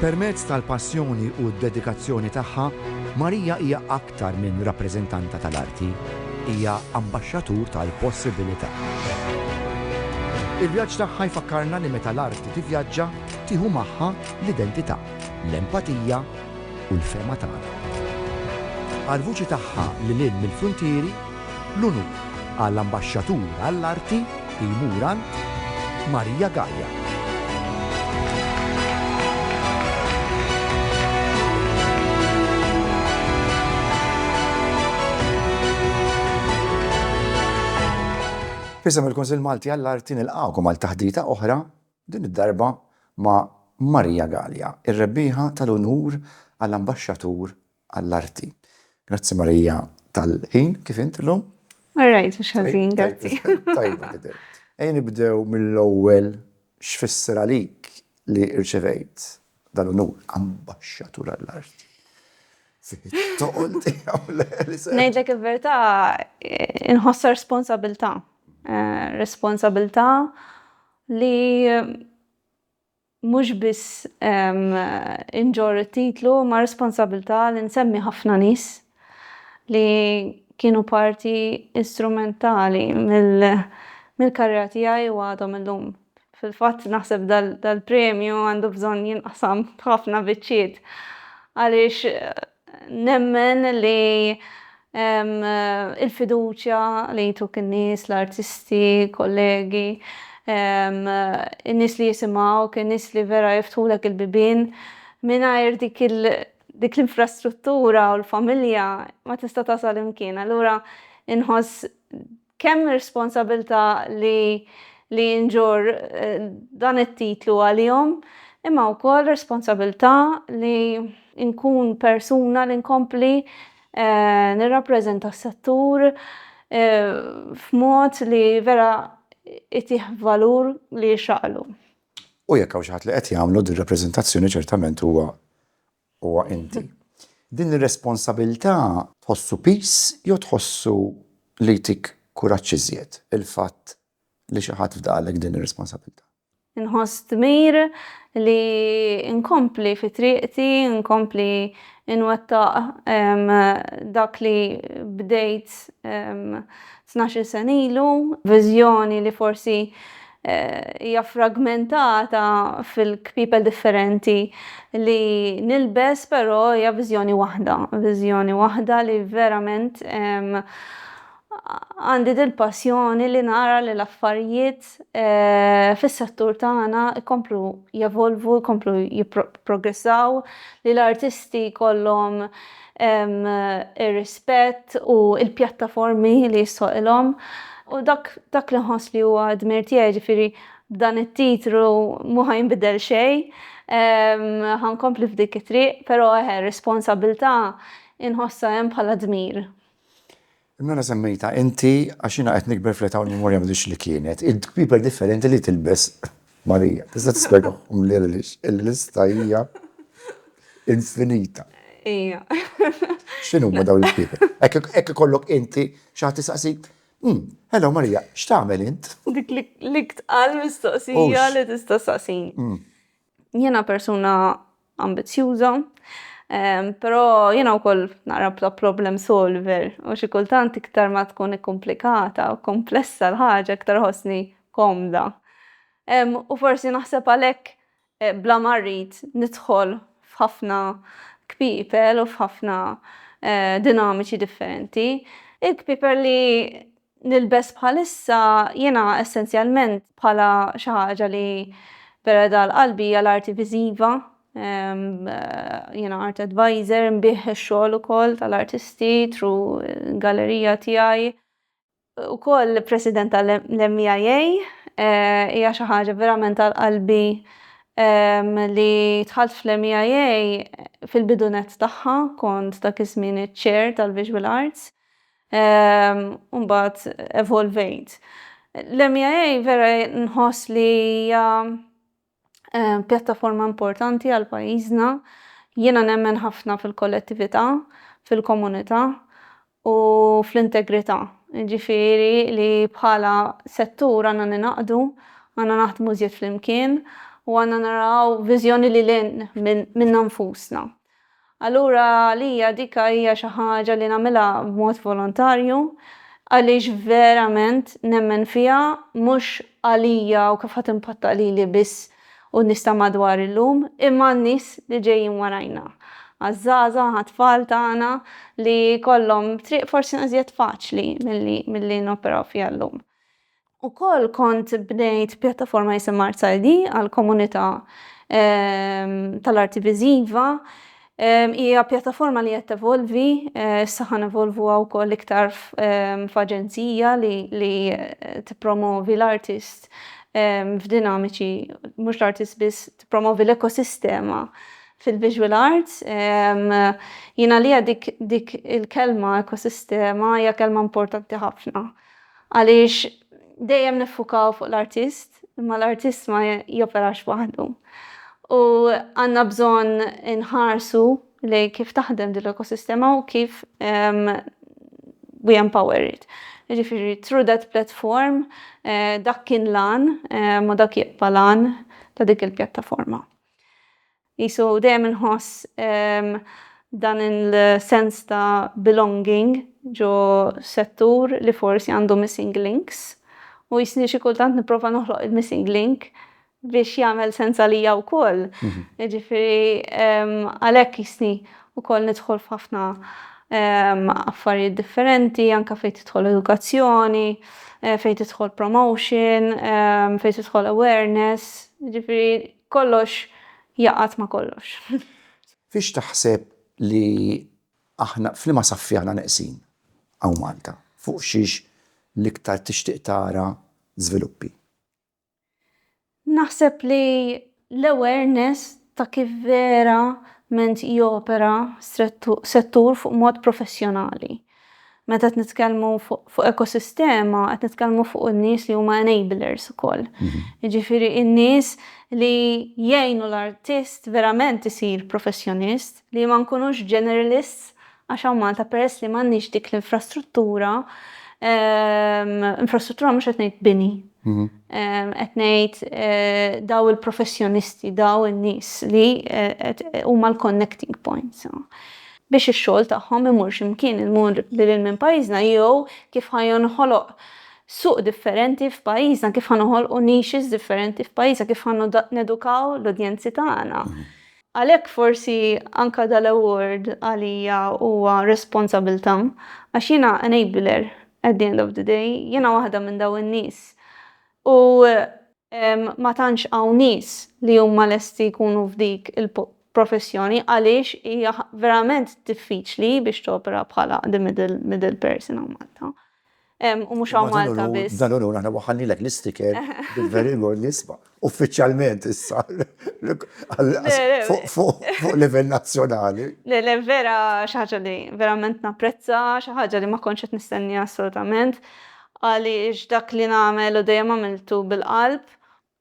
Permezz tal-passjoni u d-dedikazzjoni tagħha, Marija hija aktar minn rappreżentanta tal-arti, hija ambaxxatur tal-possibilità. Il-vjaġġ tagħha jfakkarna li meta l-arti tivvjaġġa, tieħu magħha l-identità, l-empatija u l-fehma tagħna. Għall-vuċi tagħha lil hinn mill-fruntieri, L-unur għal Ambaxxatur għall-Arti jmur għand Maria Gaia. F'isem il-Kunsill Malti għall-Arti nilqgħukom għal taħdita oħra, din id-darba ma' Maria Gaia, ir-rebbieħa tal-unur għal Ambaxxatur għall-arti. Grazzi Marija tal-ħin, kif int illum? All right, mhux ħażin, grazzi. Tajba tidher. Ejja nibdew mill-ewwel x'fisser għalik li rċevejt dal-unur Ambaxxatur għall-Arti. Fit-toqol tiegħu l-Elisa. Ngħidlek il-verità, inħossha responsabilità. Responsabilità li Mhux biss inġorr it-titlu imma responsabilità li nsemmi ħafna nies li kienu parti strumentali mill-karriera tiegħi u għadhom illum. Fil-fatt naħseb dal-premju għandu bżonn jinqasam f'ħafna biċċiet għaliex Nemmen li l-fiduċja li jtuk in-nies, l-artisti, kollegi, in-nies li jisimgħuk, in-nies li vera jiftħulek il-bibien, mingħajr dik dik l-infrastruttura u l-familja ma tista' tasal imkien. Allura inħoss Kemm responsabilità li li nġorr dan it-titlu għalihom, imma wkoll responsabilità li nkun persuna li nkompli nirrappreżenta s-settur f'mod li vera jtih valur li jixraqlu. U jekk hawn xi ħadd li qed jagħmlu din rappreżentazzjoni ċertament huwa huwa inti. Din ir-responsabilità tħossu piż jew tħossu li jtik kuraġġ iżjed il-fatt li xi ħadd fdaqlek din ir-responsabilità? Inħoss dmir li nkompli fi triqti, nkompli nwettaq dak li bdejt tnax-il sena ilu, viżjoni li forsi hija fragmentata fil-kpiepel differenti li nilbes però hija viżjoni waħda, viżjoni waħda li verament għandi dil-passjoni li nara li l-affarijiet fis-settur tagħna jkomplu jevolvu, jkomplu jipprogressaw, li l-artisti jkollhom ir-rispett u l-pjattaformi li jissoqilhom u dak dak li nħoss li huwa dmir tiegħi ġifieri b'dan it-titlu mhu ħa jinbidel xejn, ħa nkompli f'dik it-triq, però eħe r-responsabilità inħossha hemm bħala dmir. Nona semmejtha inti għax jiena qed nikber fl-età u l-memorja m'għadhiex li kienet. Il-kpiper differenti li tilbes Marija. Tista' tispjegahom li għaliex il-lista hija infinita. Ejja. X'inhuma dawn il-kpiper? Hekk ikollok inti xi ħadd isaqsik, Hm, hello Marija, x'tagħmel int? Dik l-iktqar mistoqsija li tista' ssaqsini. Jiena persuna ambizzjuża, però jiena wkoll naqra bla problem solver u xi kultant iktar ma tkun ikkumplikata u komplessa l-ħaġa iktar ħossni komda. U forsi naħseb għalhekk eh, bla ma rrid nidħol f'ħafna kpieper u f'ħafna eh, dinamiċi differenti. Il-kpieper li nilbes bħalissa jiena essenzjalment bħala xi ħaġa li vera dal qalbi hija l-arti viżiva. Jiena art advisor, nbih ix-xogħol ukoll tal-artisti tru gallerija tiegħi. Ukoll president tal-MEIA, hija xi ħaġa verament għal qalbi li dħalt fl-MEIA fil-bidu nett tagħha kont dak iż-żmien iċ-chair tal-visual arts. Ehm, u mbagħad evolvejt. L-MEA vera nħoss li hija ehm, pjattaforma importanti għal pajjiżna. Jiena nemmen ħafna fil-kollettività, fil-komunità u fl-integrità. Ġifieri li bħala settur għandna ningħaqdu, għandna naħdmu żjed flimkien u għandna naraw viżjoni lil hinn minna nfusna. Allura għalija dik hija xi ħaġa li nagħmilha b'mod volontarju għaliex verament nemmen fiha, mhux għalija u kif ħa timpatta lili biss u n-nies ta' madwar illum, imma għan-nies li ġejjin warajna. Għaż-żgħażagħ, għat-tfal tagħna li jkollhom triq forsi iżjed faċli milli noperaw fiha llum. Ukoll kont bnejt pjattaforma jisimha ArtsID għall-komunità tal-arti viżiva. Hija pjattaforma li qed tevolvi, issa ħa nevolvuha wkoll iktar f'aġenzija li tippromovi l-artist f'dinamiċi, mhux l-artist biss, tippromovi l-ekosistema fil-visual arts. Jien għalija dik il-kelma ekosistema hija kelma importanti ħafna. Għaliex dejjem niffukaw fuq l-artist, imma l-artist ma joperax waħdu. U għandna bżonn inħarsu lejn kif taħdem din l-ekosistema u kif we empower it. Jiġifieri through that platform dak kien l-għan u dak jibqa' l-għan ta' dik il-pjattaforma. Qisu dejjem inħoss dan il-sens ta' belonging ġo settur li forsi għandu missing links u jisni xi kultant nipprova noħloq il-missing link biex jagħmel sens għalija wkoll. Jiġifieri għalhekk jisni wkoll nidħol f'ħafna affarijiet differenti anke fejn tidħol edukazzjoni, fejn tidħol promotion, fejn tidħol awareness. Jiġifieri Kollox jaqgħad ma' kollox. Fiex taħseb li aħna, f'liema saffi aħna neqsin hawn Malta? Fuq xiex l-iktar tixtieq tara żviluppi? Naħseb li l-awareness ta' kif verament jopera settur fuq mod professjonali. meta qed nitkellmu fuq ekosistema, qed nitkellmu fuq in-nies li huma enablers ukoll. Mhm. Jiġifieri in-nies li jgħinu l-artist verament isir professjonist, li ma nkunux generalists għax hawn Malta peress li m'għandniex dik l-infrastruttura, ehm, infrastruttura mhux qed ngħid bini. Mhm. Ehm, qed ngħid eh, daw il-professjonisti, daw in-nies li eh, huma l-connecting points. biex ix-xogħol tagħhom imur xi mkien 'il mur lil hinn minn pajjiżna jew kif ħa jonħoloq suq differenti f'pajjiżna, kif ħa noħolqu niches differenti f'pajjiżna, kif ħa nedukaw l-udjenzi tagħna. Għalhekk forsi anke dal-award għalija huwa responsabilità għax jiena enabler at the end of the day, jiena waħda minn dawn in-nies u ma tantx hawn nies li huma lesti jkunu f'dik il-professjoni għaliex hija verament diffiċli biex topera bħala the middle person hawn Malta. U mhux hawn Malta biss. Dan hu l-unur, aħna waħħalnilek l-isticker bil-very good li isma', uffiċjalment issa fuq livell nazzjonali. Le, le, vera xi ħaġa li verament napprezza, xi ħaġa li ma kontx qed nistenniha assolutament. Għaliex dak li nagħmel u dejjem għamiltu bil-qalb.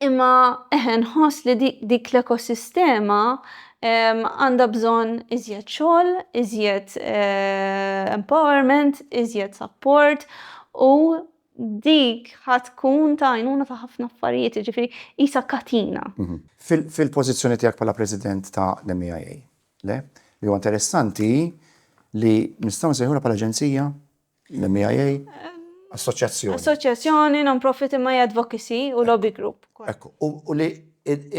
Imma eħe nħoss li dik l-ekosistema għandha bżonn iżjed xogħol, iżjed empowerment, iżjed sapport u dik ħa tkun ta' għajnuna ta' ħafna affarijiet, jiġifieri qisha katina. Fil-pożizzjoni tiegħek bħala President ta' l-MEIA, le? Li huwa interessanti hi li nistgħu nsejħulha bħala aġenzija L-MIA, assoċjazzjoni. Assoċjazzjoni, non-profit imma advocacy u lobby group. Ekku, u li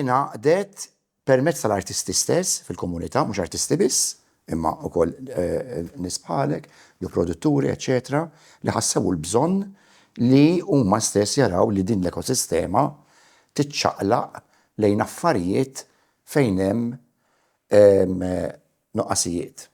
inaqdet permezz tal-artisti stess fil-komunità, mhux artisti biss, imma wkoll eh, nisbħalek, jew produtturi, eċetera, li ħassew l-bżonn li huma stess jaraw li din l-ekosistema tiċċaqlaq lejn affarijiet fejn hemm eh, nuqqasijiet.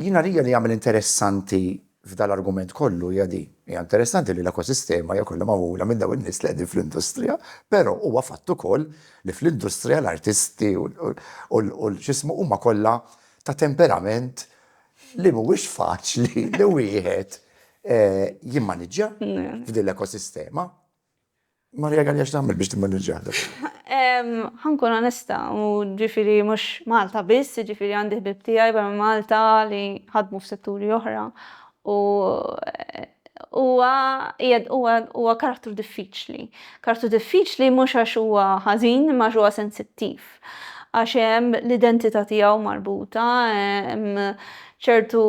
Jien għalija li jagħmel interessanti f'dan l-argument kollu hija din, hija interessanti li l-ekosistema hija kollha magħmula minn dawn in-nies li qegħdin fl-industrija, però huwa fatt ukoll li fl-industrija l-artisti u l-x'ismu huma kollha ta' temperament li mhuwiex faċli li wieħed jimmaniġġja f'din l-ekosistema. Maria Galea x'tagħmel biex timmaniġġah dak? Ħa nkun onesta, u ġifieri mhux Malta biss, jiġifieri għandi ħbieb tiegħi barra minn Malta li ħadmu f'setturi oħra u huwa qiegħed huwa huwa karattru diffiċli. Karattru diffiċli mhux għax huwa ħażin imma għax huwa sensittiv. għax hemm l-identità tiegħu marbuta, hemm ċertu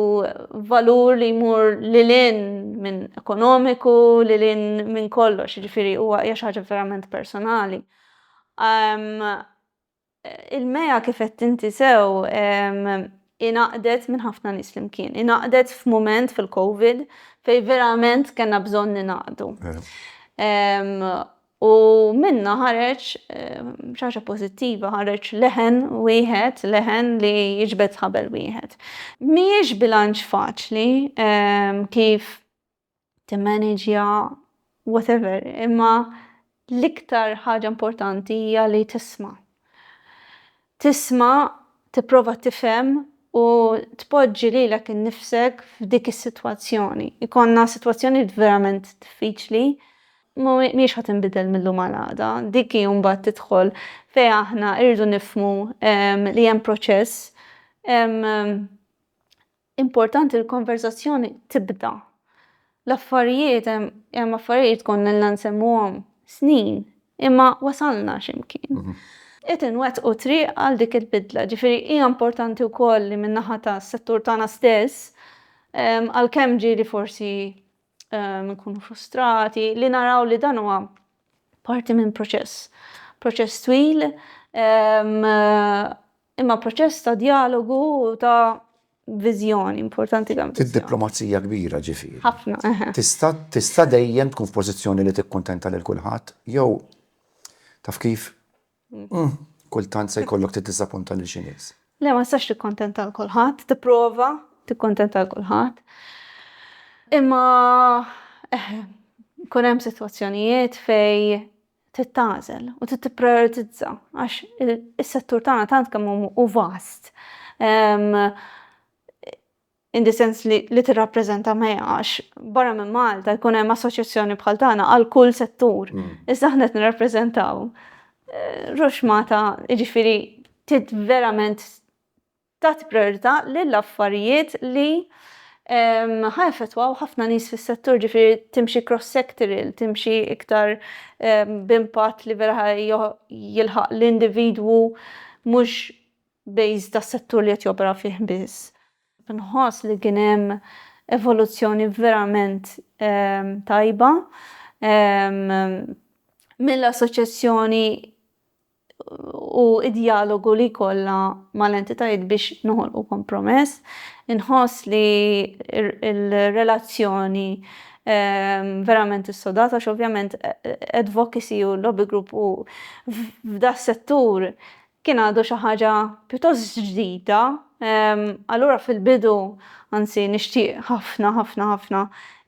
valur li jmur lil hinn minn ekonomiku, lil hinn minn kollox, jiġifieri huwa hija xi ħaġa verament personali. Il-MEA kif qed inti sew ingħaqdet minn ħafna nies flimkien, ingħaqdet f'mument fil-Covid fejn verament kellna bżonn ningħaqdu. U minnha ħareġ xi ħaġa pożittiva, ħareġ leħen wieħed, leħen li jiġbed ħabel wieħed. Mhijiex bilanċ faċli kif timmaniġja whatever, imma l-iktar ħaġa importanti hija li tisma'. Tisma', tipprova tifhem u tpoġġi lilek innifsek f'dik is-sitwazzjoni. Ikollna sitwazzjoni verament diffiċli, mhijiex ħa tinbidel mil-lum għal għada. Dik hi mbagħad tidħol fejn aħna rridu nifhmu li hemm proċess Importanti l-konverżazzjoni tibda. L-affarijiet hemm affarijiet konna ilna nsemmuhom snin, imma wasalna xi mkien. Qed inwettqu triq għal dik il-bidla. Ġifieri hija importanti wkoll li min-naħa tas-settur tagħna stess, għalkemm ġieli forsi nkunu frustrati, li naraw li dan huwa parti minn proċess. Proċess twil Imma proċess ta' djalogu u ta' viżjoni importanti kemm viżjoni. Id-diplomazija kbira ġifieri. Ħafna, eħe. Tista' tista' dejjem tkun f'pożizzjoni li tikkuntenta lil kulħadd jew taf kif kultant se jkollok tiddisappunta lil xi nies. Le ma tistax tikkuntenta lil kulħadd, tipprova tikkuntenta lil kulħadd. Imma eħe, ikun hemm sitwazzjonijiet fejn trid tagħżel u trid tipprijoritizza għax is-settur tagħna tant kemm hu vast in the sense li, li tirrappreżenta mea għax barra minn Malta jkun hemm assoċjazzjoni bħal tagħna għal kull settur. Mm. Iżda aħna qed nirrappreżentaw eh, Roxmata, jiġifieri tit verament tagħti prijorità lil affarijiet li ħa jaffettwaw ħafna nies fis-settur, ġifieri timxi cross-sectoral, timxi iktar b'impatt li vera jilħaq l-individwu mhux based tas-settur li qed jopera fih biss. Nħoss li kien hemm evoluzzjoni verament tajba mill-assoċjazzjoni u d-djalogu li jkollha mal-entitajiet biex noħolqu kompromess. Inħoss li r-relazzjoni verament issodata għax ovvjament advocacy u lobby group u f'das-settur kien għadu xi ħaġa pjuttost ġdida. Allura fil-bidu, anzi nixtieq ħafna ħafna ħafna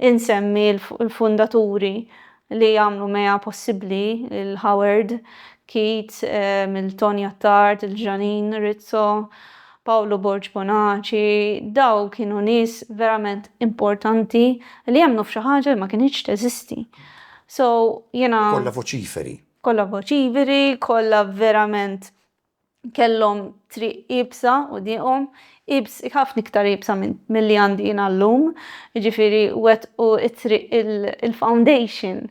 insemmi l-fundaturi li għamlu mea possibbli lil Howard, Keith, Milton Jattard, il-Ġranin, Rizzo, Pawlu Borg Bonaċi, daw kienu nies verament importanti li emmnu f'xi ħaġa li ma kinitx teżisti. So, jiena. Kollha voċiferi. Kollha voċiferi, kollha verament kellhom triq iebsa qudiemhom, iebs ħafna iktar iebsa milli għandi jiena llum, jiġifieri wettqu t-triq il-foundation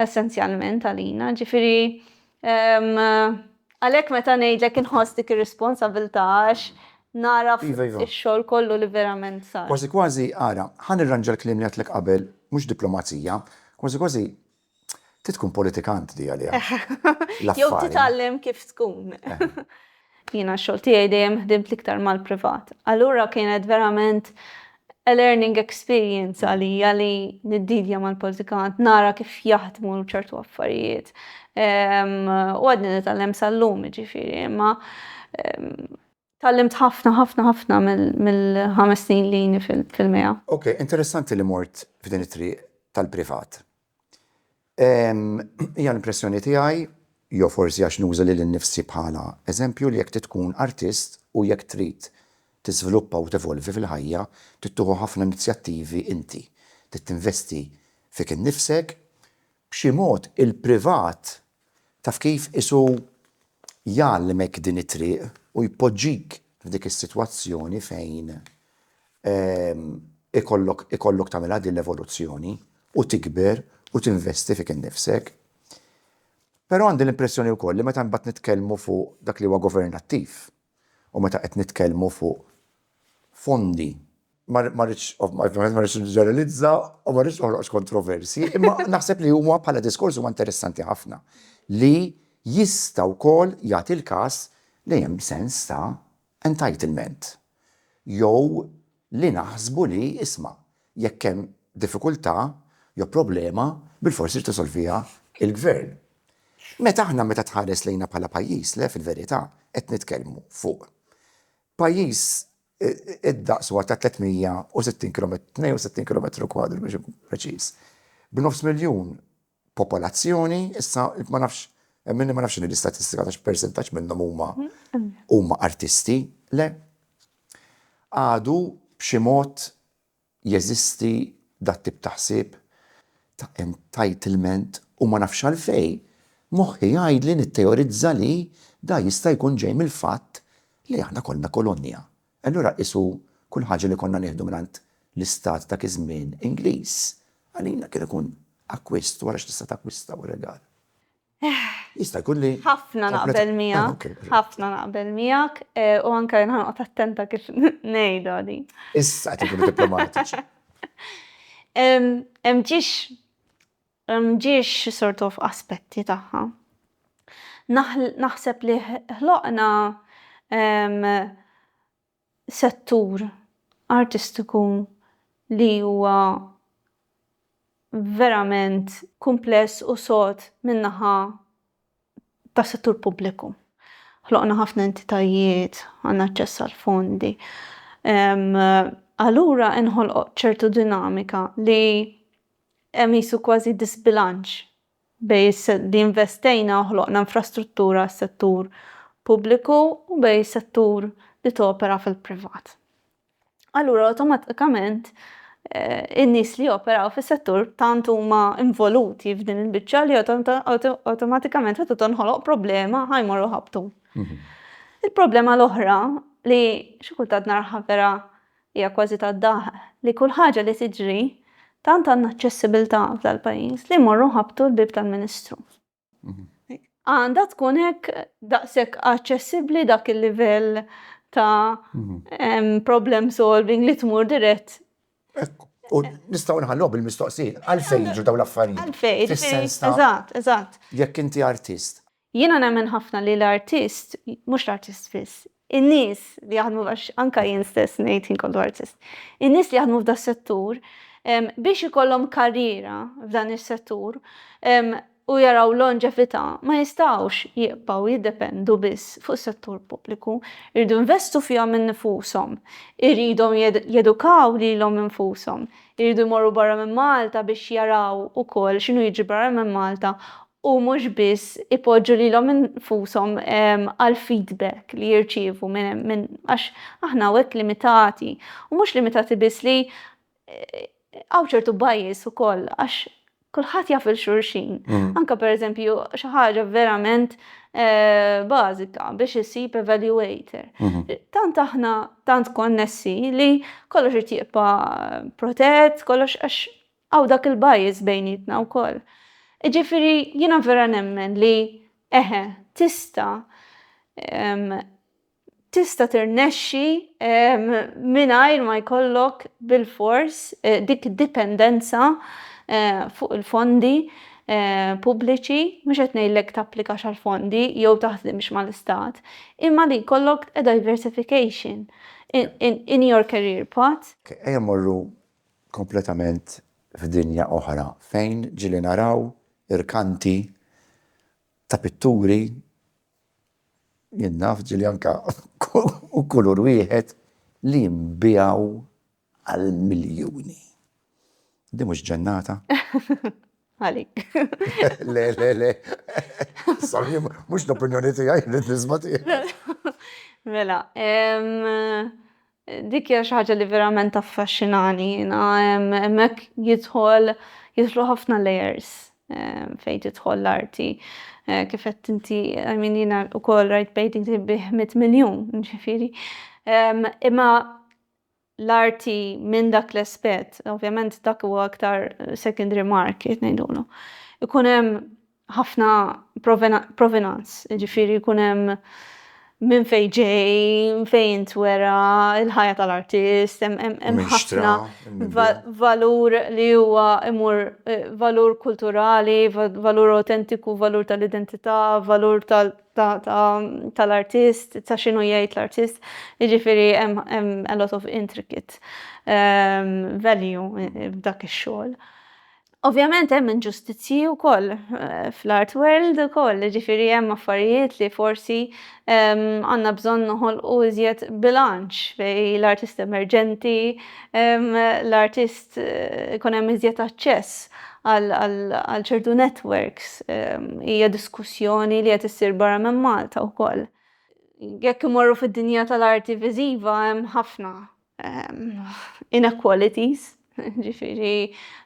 essenzjalment għalina, ġifieri għalhekk meta ngħidlek inħoss dik ir-responsabilità għax nara x-xogħol kollu li verament sar. Kważi kważi, ara, ħa nirranġa l-kliem li għedtlek qabel, mhux diplomazija, kważi kważi Trid tkun politikant di għaliha. Jew titgħallem kif tkun. Jiena x-xogħol tiegħi dejjem ħdimt l-iktar mal-privat. Allura kienet verament a learning experience għalija li niddidja mal-politikant, nara kif jaħdmu ċertu affarijiet. U għadni nitgħallem sal-lum, jiġifieri, imma Tgħallimt ħafna, ħafna, ħafna mill-ħames snin li ilni fil-MEA. Ok, interessanti li mort f'din it-triq tal-privat. Hija l-impressjoni tiegħi, jew forsi għax nuża lili nnifsi bħala eżempju, li jekk trid tkun artist u jekk trid tiżviluppa u tevolvi fil-ħajja, trid tieħu ħafna inizjattivi inti. Trid tinvesti fik innifsek. B'xi mod il-privat Taf kif, qisu jgħalmek din it-triq u jpoġġik f'dik is-sitwazzjoni fejn ikollok ikollok tagħmilha din l-evoluzzjoni u tikber u tinvesti fik innifsek. Però għandi l-impressjoni wkoll li meta mbagħad nitkellmu fuq dak li huwa governattiv, U meta qed nitkellmu fuq fondi, ma rridx, ovvjament ma rridx niġġeneralizza u ma rridx noħloq kontroversji, imma naħseb li huwa bħala diskors huwa interessanti ħafna li jista' wkoll jagħti l-każ li hemm sens ta' entitlement jew li naħsbu li, isma', jekk hemm diffikultà jew problema, bilfors irid isolviha l-gvern. Meta aħna meta tħares lejna bħala pajjiż, le fil-verità qed nitkellmu fuq pajjiż id-daqs huwa ta' 360 kilometru, 62 kilometru kwadru biex inkun preċiż, b'nofs miljun popolazzjoni, issa ma nafx, hemm min ma nafx x'inhi l-istatistika ta' x'persentaġġ minnhom huma huma artisti, le? Għadu b'xi mod jeżisti dat-tip ta' ħsieb ta' entitlement u ma nafx għalfejn moħħi jgħidli nitteorizza li dan jista' jkun ġej mill-fatt li aħna konna kolonja Allura qisu kull ħaġa li konna nieħdu mingħand l-istat dak iż-żmien Ingliż, għalina kien ikun akkwist, wara x'tista' takkwista u regal. Jista' jkun li. Ħafna naqbel miegħek, ħafna naqbel miegħek, u anke jien ħanqgħod attenta kif ngħidha din. Issa qed inkunu diplomatiċi. Hemm ġiex M'ġiex sort of aspetti tagħha. Naħseb li ħloqna settur artistiku li huwa verament kumpless u sod min-naħa tas-settur pubbliku. Ħloqna ħafna entitajiet, għandna aċċess għall-fondi. Allura inħolqot ċertu dinamika li hemm qisu kważi diżbilanċ bejn li investejna u ħloqna infrastruttura għas-settur pubbliku u bejn is-settur li topera fil-privat. allura awtomatikament eh, in-nies li joperaw fis-settur tant huma involuti f'din il-biċċa li awtomatikament qed tonħoloq problema ħajmorru ħabtu. Mhm. Il-problema l-oħra li xi kultant narħa vera hija kważi tad-daħ li kull ħaġa li tiġri tant għandna aċċessibilità fl-pajjiż li morru ħabtu l-bib tal-Ministru. Għandha tkun hekk daqshekk aċċessibbli dak il-livell ta' problem solving li tmur dirett. U nistgħu nħallu bil-mistoqsin, għalfejn jiġu dawn l-affarijiet? Għalfejn, fis-sens ta' eżatt, eżatt. Jekk inti artist. Jiena nemmen ħafna li l-artist, mhux l-artist biss, In-nies li jaħdmu, għax anke jien stess ngħid ħin kollu artist, in-nies li jaħdmu f'das-settur biex ikollhom karriera f'dan is-settur u jaraw longevità ma jistgħux jibqgħu jiddependu biss fuq is-settur pubbliku. Iridu jinvestu fihom innifushom. Iridhom jedukaw lilhom infushom. Iridu jmorru barra minn Malta biex jaraw ukoll x'inhu jiġri barra minn Malta u mhux biss ipoġġu lilhom infushom għall-feedback li jirċievu minn għax aħna hawnhekk limitati u mhux limitati biss li hawn ċertu bias ukoll għax kulħadd jaf il-xulxin. Anke pereżempju xi ħaġa verament bażika biex issib evaluator. Tant aħna tant konnessi li kollox irid jibqa' protett, kollox għax Hawn dak il-bias bejnietna wkoll. Jiġifieri jiena vera nemmen li eħe, tista' tista' tirnexxi mingħajr ma jkollok bilfors dik id-dipendenza fuq il-fondi pubbliċi, mhux qed ngħidlek tapplikax għall-fondi jew taħdimx mal-istat, imma li jkollok a diversification in your career path. Ejja mmorru kompletament f'dinja oħra fejn ġieli naraw irkanti ta' pitturi, jien naf ġieli anke kulur wieħed, li jinbiegħu għal miljuni. Din mhux ġennata? Għalik. Le, le, le. Sorry, mhux l-opinjoni tiegħi, rrid nisma' tiegħek. Mela, Dik hija xi ħaġa li verament taffaxxinani jiena. Hemmhekk jidħol jidħlu ħafna layers fejn tidħol l-arti. Kif qed inti, I mean jiena wkoll rajt paintings li jbiegħ mitt miljun, ġifieri. Imma l-arti minn dak l-aspett, ovvjament dak huwa aktar secondary market ngħidulu. Ikun hemm ħafna provenance, jiġifieri jkun hemm minn fejn ġej, fejn intwera, il-ħajja tal-artist, hemm ħafna valur li huwa imur valur kulturali, valur awtentiku, valur tal-identità, valur tal-artist, ta' x'inhu jgħid l-artist, jiġifieri hemm a lot of intricate value f'dak ix-xogħol. Ovvjament hemm inġustizzji wkoll fl-art world ukoll, ġifieri hemm affarijiet li forsi għandna bżonn noħolqu iżjed bilanċ bejn l-artist emerġenti, l-artist ikun hemm iżjed aċċess għal ċertu networks. Hija diskussjoni li qed issir barra minn Malta wkoll. Jekk imorru fid-dinja tal-arti viżiva hemm ħafna inequalities, ġifiri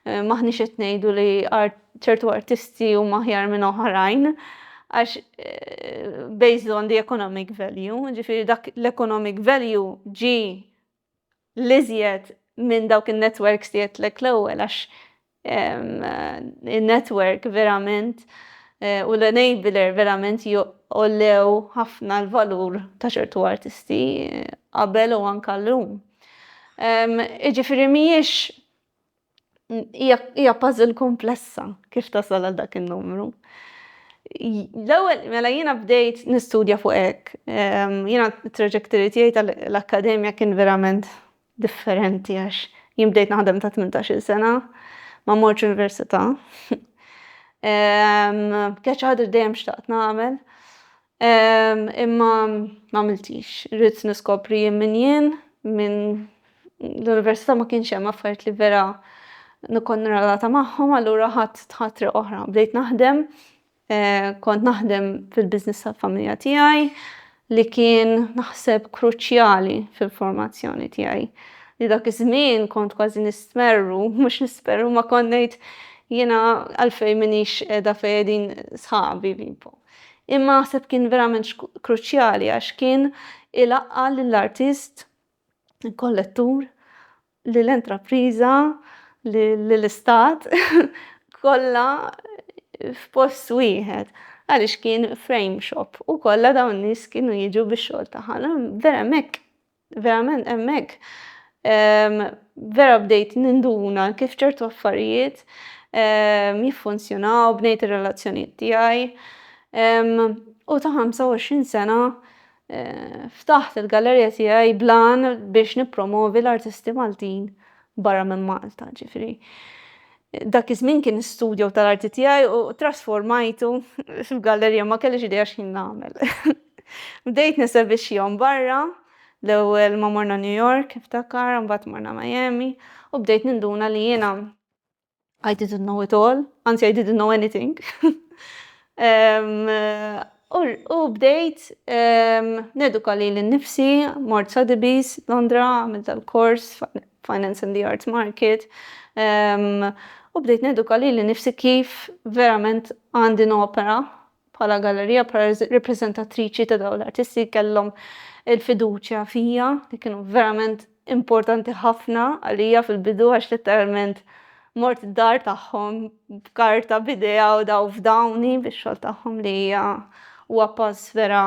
maħniex qed ngħidu li ċertu artisti huma aħjar minn oħrajn għax eh, based on the economic value, ġifiri dak l-economic value ġi liżjed minn dawk il-networks li jettlek l-ewwel għax in-network verament eh, u l-enabler verament joqollew ħafna l-valur ta' ċertu artisti eh, qabel u anka l-lum. Iġifiri miex hija puzzle komplessa kif tasal għal dak in-numru. L-ewwel mela jiena bdejt nistudja fuq hekk. Jiena t-traġetturi tiegħi tal-akkademja kien verament differenti għax jien bdejt naħdem ta' tmintax-il sena, ma mortx università. Kienet xi ħaġa li dejjem xtaqt nagħmel. Imma m'għamiltix. Ridt niskopri jien min jien, minn l-università ma kienx hemm affarijiet li vera nkun relatata magħhom, allura ħadt triq oħra. Bdejt naħdem Kont naħdem fil-business tal-familja tiegħi li kien naħseb kruċjali fil-formazzjoni tiegħi. Li dak iż-żmien kont kważi nistmerru, mhux nisperru ma kont ngħid jiena għalfejn m'iniex qiegħda fejn qegħdin sħabi Vipo. Imma naħseb kien verament kruċjali għax kien ilaqqa' lill-artist, kollettur lill-intrapriża, lill-Istat, kollha f'post wieħed għaliex kien frame shop u kollha dawn in-nies kienu jiġu bix-xogħol tagħha. Vera hemmhekk, verament hemmhekk vera bdejt ninduna kif ċertu affarijiet jiffunzjonaw, bnejt ir-relazzjonijiet tiegħi u ta' 25 sena Ftaħt il-gallerija tiegħi blan biex nippromovi l-artisti Maltin barra minn Malta, ġifieri dak iż-żmien kien studjo tal-arti tiegħi u trasformajtu f'gallerija, ma kellix idea x'ħin nagħmel. Bdejt nesebixxihom barra, l-ewwel ma morna New York, niftakar, imbagħad morna Miami u bdejt ninduna li jiena I didn't know it all, anzi I didn't know anything. U bdejt neduka li l-nifsi, mort Sotheby's, Londra, għamil tal-kors, Finance and the Arts Market, u bdejt neduka li l-nifsi kif verament għandi nopera Bħala gallerija, bħala ripreżentatriċi ta' dawn l-artisti kellhom il-fiduċja fija li kienu verament importanti ħafna għalija fil-bidu għax letteralment mort id-dar tagħhom b'karta b'idea u daw f'dawni bix-xogħol tagħhom li hija huwa pass vera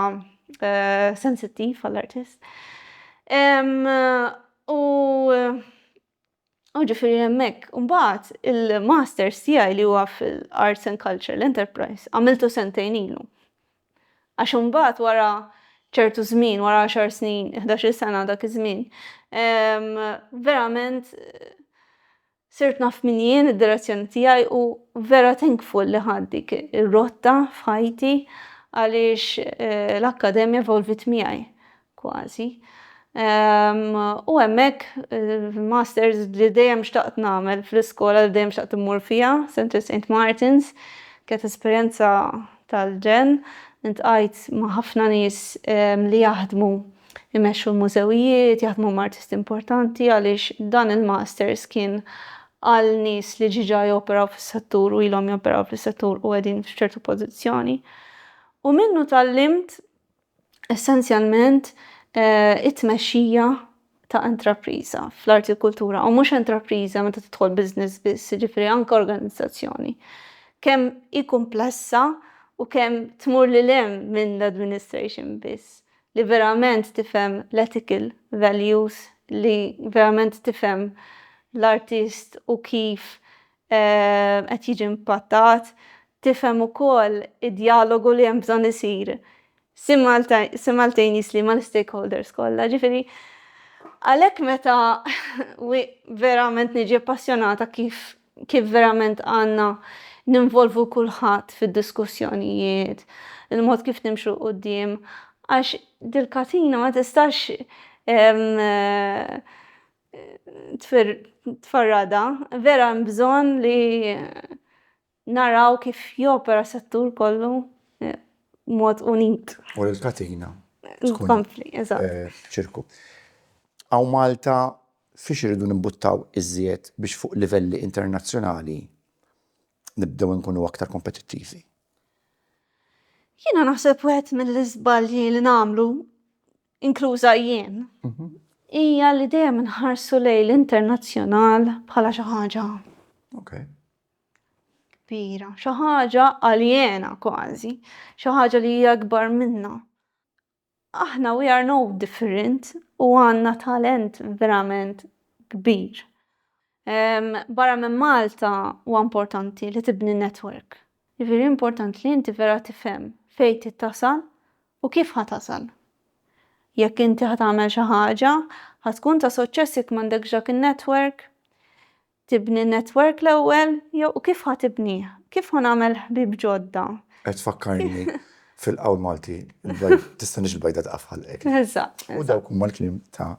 eh, sensittiv għall-artist. U U ġifieri hemmhekk. U mbagħad il-masters tiegħi li huwa fil-Arts and Cultural Enterprise għamiltu sentejn ilu. Għax imbagħad wara ċertu żmien, wara għaxar snin, ħdax-il sena dak iż-żmien, verament sirt naf min jien, id-direzzjoni tiegħi u vera thankful li ħadt dik ir-rotta f'ħajti għaliex l-akkademja evolvit miegħi. kważi, u hemmhekk il-masters li dejjem xtaqt nagħmel fl-iskola li dejjem xtaqt immur fiha, Centre Saint Martin's, kienet esperjenza tal-ġenn, iltqajt ma' ħafna nies li jaħdmu jmexxu l-mużewijiet, jaħdmu ma' artisti importanti għaliex dan il-masters kien għal nies li ġiġa joperaw fis-settur u ilhom joperaw fis-settur u qegħdin f'ċertu pożizzjoni. U minnu tgħallimt essenzjalment it-tmexxija ta' intrapriża fl-arti u kultura u mhux intrapriża meta tidħol business biss, jiġifieri anke organizzazzjoni. Kemm hi kumplessa u kemm tmur lil hemm minn l-administration biss, li verament tifhem l-ethical values, li verament tifhem l-artist u kif qed jiġi impattat, tifhem ukoll id-djalogu li hemm bżonn isir simultaneously mal-stakeholders kollha. Ġifieri, għalhekk meta verament niġi appassjonata kif kif verament għandna ninvolvu kulħadd fid-diskussjonijiet, il-mod kif nimxu 'l quddiem għax dil-katina ma tistax tfarrada, vera hemm bżonn li naraw kif jopera settur kollu mod unit. U li l-katina tkun ċirku. Hawn Malta fiex irridu nimbuttaw iżjed biex fuq livelli internazzjonali nibdew inkunu aktar kompetittivi? Jiena naħseb wieħed mill-iżbalji li nagħmlu inkluża jien, hija li dejjem inħarsu lejn l-internazzjonal bħala xi ħaġa kbira, xi ħaġa aljena kważi, xi ħaġa li hija akbar minna. Aħna we are no different u għandna talent verament kbir. Barra minn Malta huwa importanti li tibni network. Jiġifieri importanti li inti vera tifhem fejn trid tasal u kif ħa tasal. Jekk inti ħa tagħmel xi ħaġa, ħa tkun ta' suċċess jekk m'għandekx dak in-network? Tibni n-network l-ewwel jew u kif ħa tibnih? Kif ħa nagħmel ħbieb ġodda? Qed tfakkarni fil-qawl Malti, tista' nix il-bajda tqaf ħalqek. Eżatt. U dawk huma l-kliem ta'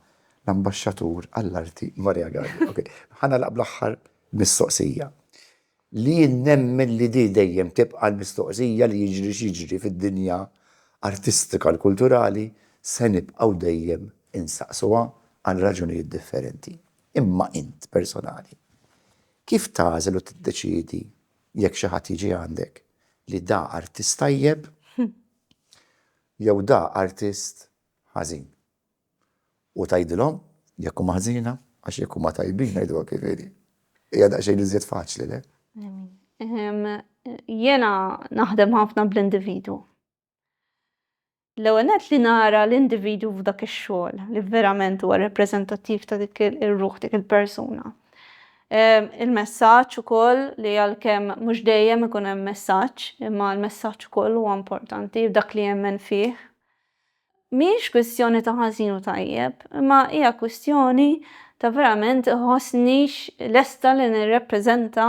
l-Ambaxxatur għall-Arti Maria Galli. Ok, ħa nagħlaq bl-aħħar mistoqsija, li jien nemmen li di dejjem tibqa' l-mistoqsija li jiġri x'jiġri fid-dinja artistika l-kulturali se nibqgħu dejjem insaqsuha għal raġunijiet differenti. Imma int personali, kif tagħżel u tiddeċiedi jekk xi ħadd jiġi għandek li da artist tajjeb jew da artist ħażin? u tgħidilhom jekk huma ħżiena għax jekk huma tajbin ngħiduha kif inhi. Hija daqsxejn iżjed faċli, le? Jiena naħdem ħafna bl-individwu. L-ewwel nett li nara l-individwu f'dak ix-xogħol li verament huwa rappreżentattiv ta' dik ir-ruħ dik il-persuna. Il-messaġġ ukoll li għalkemm mhux dejjem ikun hemm messaġġ, imma l-messaġġ ukoll huwa importanti dak li jemmen fih. Mhijiex kwistjoni ta' ħażin u tajjeb, imma hija kwistjoni ta' verament iħossnix lesta li nirrappreżenta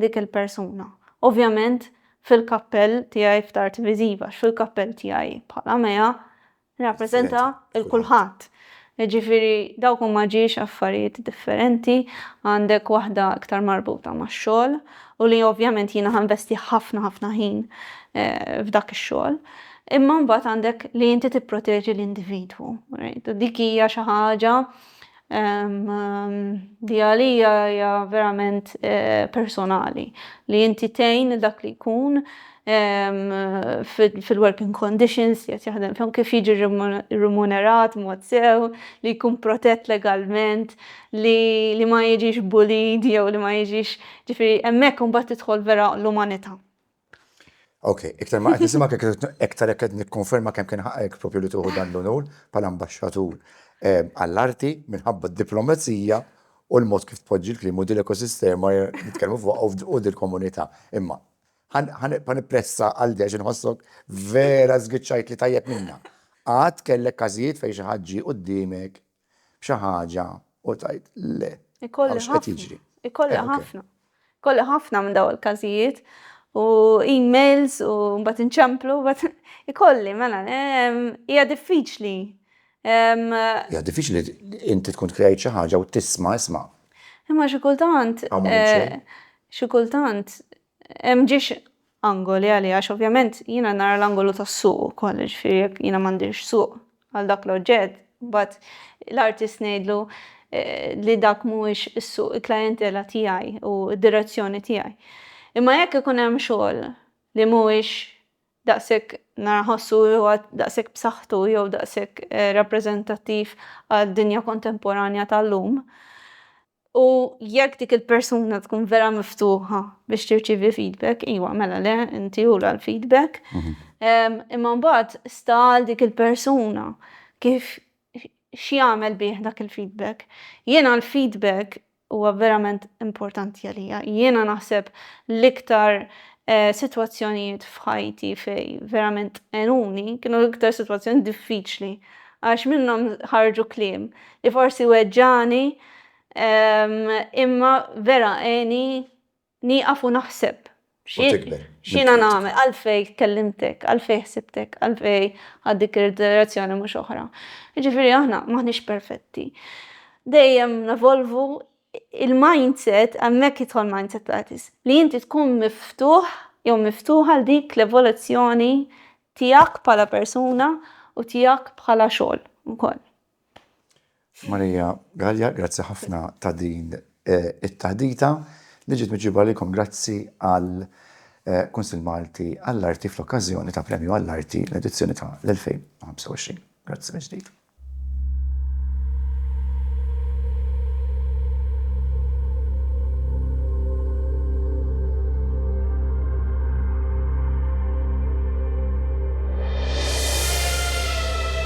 dik il-persuna. Ovvjament fil-kappell tiegħi f'Tard Viżiva, għax fil-kappell tiegħi bħala Mea nirrappreżenta 'l kulħadd. Jiġifieri dawk huma ġiex affarijiet differenti, għandek waħda iktar marbuta max-xogħol u li ovvjament jiena ħa nvesti ħafna ħafna ħin f'dak ix-xogħol, imma mbagħad għandek li inti tipproteġi l-individwu, right? U dik hija xi ħaġa li għalija hija verament personali li inti tgħin lil dak li jkun fil-working conditions li qed jaħdem fihom, kif jiġi rimunerat mod sew, li jkun protett legalment, li ma jiġix bullied jew li ma jiġix ġifieri hemmhekk imbagħad tidħol vera l-umanità. Ok, iktar ma qed nisimgħek iktar qed nikkonferma kemm kien ħaqek propju li tuħu dan l-unur bħala ambaxxatur eh, għall-arti minħabba d-diplomazija u l-mod kif tpoġġi l-klim u dil-ekosistema nitkellmu fuq u dil-komunità. Imma Ħa nibqa' nippressa għal Dex, inħossok vera żgiċċajtli tajjeb minnha. Qatt kellek każijiet fejn xi ħadd ġie quddiemek b'xi ħaġa u tgħid le, hawn x'qed jiġri? Ikolli ħafna. Ikolli ħafna minn dawn il-każijiet u emails u mbagħad inċemplu, ikolli mela hija diffiċli. Hija diffiċli inti tkun tkreajt xi ħaġa u tisma' isma'. Imma xi kultant xi kultant M'ġiex angoli għalih għax ovvjament jiena nara l-angolu tas-suq ukoll, jiġifieri jekk jiena m'għandix suq għal dak l-oġġett, imbagħad l-artist ngħidlu li dak mhuwiex is-suq, il-klijentela tiegħi u d-direzzjoni tiegħi. Imma jekk ikun hemm xogħol li mhuwiex daqshekk nara nħossu li huwa daqshekk b'saħħtu jew daqshekk rappreżentattiv għad-dinja kontemporanja tal-lum, U jekk dik il-persuna tkun vera miftuħa biex tirċivi feedback, iwa, mela le, inti ula l-feedback. Mhm. Imma mbagħad sta għal dik il-persuna kif x'jagħmel bih dak il-feedback. Jiena l-feedback huwa verament importanti għalija. Jiena naħseb l-iktar eh, sitwazzjonijiet f'ħajti fej verament enuni kienu l-iktar sitwazzjoni diffiċli għax minnhom ħarġu kliem li forsi weġġagħni imma vera għeni nieqaf u naħseb x'jiena nagħmel, għalfejn kellimtek, għalfejn ħsibtek, għalfejn ħadt dik id-direzzjoni mhux oħra. Jiġifieri aħna m'aħniex perfetti. Dejjem nevolvu il-mindset hemmhekk jidħol mindset tatis li inti tkun miftuħ jew miftuħa għal dik l-evoluzzjoni tiegħek bħala persuna u tiegħek bħala xogħol ukoll. Maria Galea, grazzi ħafna ta' din it-taħdita li ġiet miġjuba lilkom grazzi għal Kunsill Malti għall-Arti fl-okkażjoni ta' Premju għall-Arti l-edizzjoni ta' l-2025. Grazzi mill-ġdid.